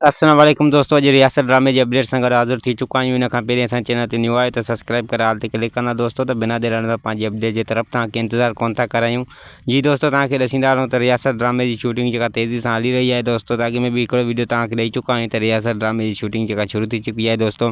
السلام عليڪم دوستو اڄ رياست ڊرامي جي اپڊيٽ سان گڏ حاضر ٿي چڪا آهيون ان کان پهرين اسان چينل تي نيو آهيو ته سبسڪرائب ڪري آل تي ڪلڪ ڪندا دوستو ته بنا دير هڻندا پنهنجي اپڊيٽ جي طرف توهان کي انتظار ڪونه ٿا ڪرايون جي دوستو توهان کي ڏسيندا رهون ته رياست ڊرامي جي شوٽنگ جيڪا تيزي سان هلي رهي آهي دوستو ته اڳ ۾ به هڪڙو ويڊيو توهان کي ڏئي چڪا آهيون ته رياست ڊرامي جي شوٽنگ جيڪا شروع ٿي چڪي آهي دوستو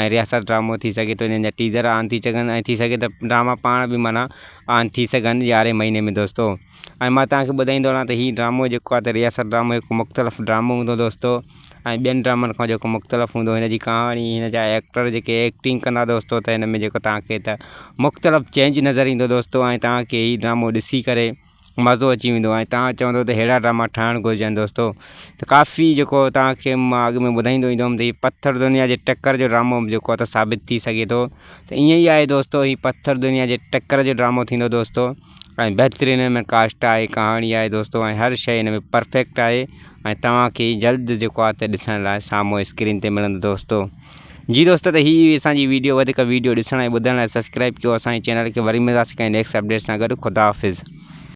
۽ رياست ڊرامو ٿي سگهي ٿو جنهن جا ٽيزر آن ٿي سگهن ۽ ٿي سگهي ته ڊراما پاڻ به معنيٰ آن ٿي سگهن يارهين مهيني ۾ دوستو ۽ ما تهان کي ٻڌائيندو هلان ته هي ڊرامو جيڪو آهي ته رياست ڊرامو هڪ مختلف ڊرامو هوندو دوستو ۽ ٻين ڊرامن کان جيڪو مختلف هوندو هن جي ڪهاڻي هن جا ايڪٽر جيڪي ايڪٽنگ ڪندا دوستو ته هن ۾ جيڪو تهان کي ته مختلف چينج نظر ايندو دوستو ۽ تهان کي هي ڊرامو ڏسي ڪري مزو اچي ويندو ۽ تان چوندو ته ههڙا ڊراما ٺاهڻ گهرجن دوستو ته ڪافي جيڪو تان کي مان اڳ ۾ ٻڌائيندو ايندو هيم ته هي پٿر دنيا جي ٽڪر جو ڊرامو به جيڪو ته ثابت ٿي سگهي ٿو ته ائين ئي آهي دوستو هي پٿر دنيا جي ٽڪر جو ڊرامو ٿيندو دوستو ۽ بهترين هن ۾ ڪاسٽ آهي ڪهاڻي آهي دوستو ۽ هر شيء هن ۾ پرفيڪٽ آهي ۽ توهان کي جلد جيڪو آهي ته ڏسڻ لاء سامهون اسڪرين تي ملندو دوستو جي دوستو ته هي اسان جي ويڊيو وڌيڪ ويڊيو ڏسڻ ۽ ٻڌڻ لاء سبسڪرائب ڪيو اسان جي چينل کي وري ملنداسي ڪنهن نيڪسٽ اپڊيٽ سان گڏ خدا حافظ